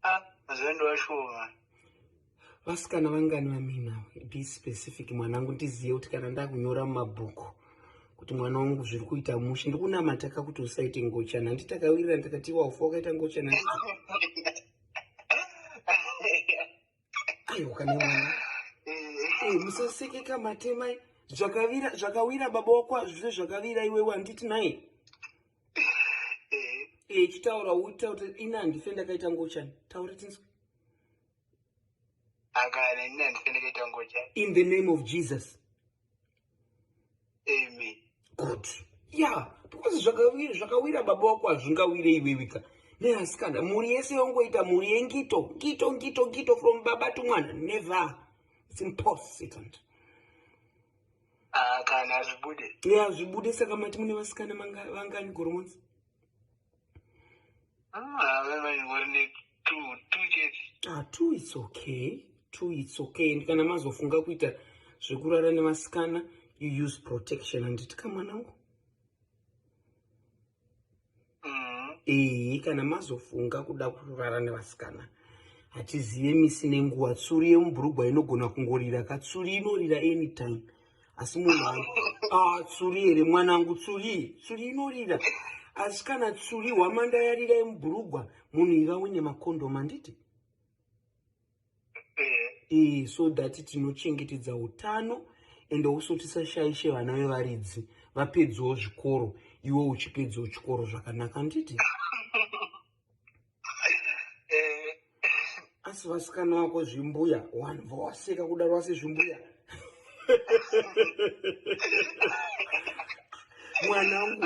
Ah, mazuva ndo ashoma. Vasikana vangani vamina be specific mwanangu ndiziye kuti kana ndakunyora mumabhuku kuti mwana wangu zviri kuita mushe ndikunamata ka kuti usaite ngochana handi takawirira ndakati waufa wakaita ngochana musasekeka matemai zvakavira zvakawira baba wako azvise zvakavira iwe wanditi naye echitaura eh, eh, uta kuti ini handife ndakaita ngochani taura tinzwe in the name of jesus amen good yeah because zvakawira zvakawira baba wako hazvingawire iwewika neasikana mhuri yese yongoita mhuri yengito ngito ngito ngito from baba to mwana never it's impossible ah, kana hazvibude yeah hazvibude saka mati mune vasikana vangani goromonzi ah, two it's okay two it's okay and kana mazofunga kuita zvekurara nevasikana you use protection handiti kamwana uko mm-hmm. ehe kana mazofunga kuda kurara nevasikana hatizive misi nenguva tsuri yemubhurugwa inogona kungorira katsuri inorira anytime asi munhu ah, tsuri here mwanangu tsuri tsuri inorira asi kana tsuri hwamanda yarira yemubhurugwa munhu iva une makondom anditi ee eh, so that tinochengetedza utano ende uso tisashaishe vana vevaridzi vapedzawo zvikoro iwe uchipedzawo chikoro zvakanaka anditi eh, asi vasikana vako zvimbuya vanhu vawaseka kudaro vase zvimbuya mwanangu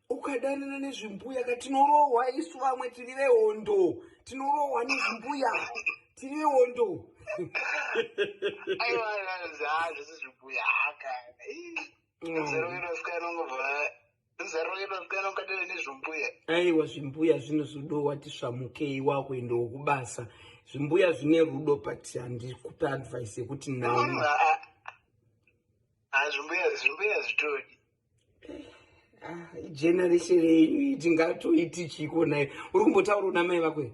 ukadanana nezvimbuya ka tinorohwa isu vamwe tiri vehondo tinorohwa nezvimbuya tiri vehondo aiwa zvazi zvimbuya haka aiwa zvimbuya zvinozodowa tisvamukei wakuendawo kubasa zvimbuya zvine rudo but handikupe advice yekuti naazvimbuyaazvitodi generation yenyu tingatoiti chii konayo uri kumbotaura unamai vakwei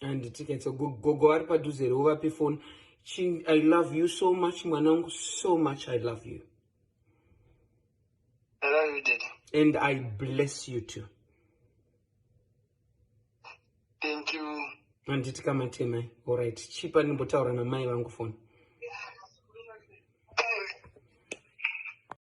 handitikaitsa gogo vari padhuze here uvape foni i love you so much mwanangu so much i love you I love you, Daddy. And I bless you too. Thank you. Handiti kama temai. All right. Chipa nimbotaura namai vangu phone.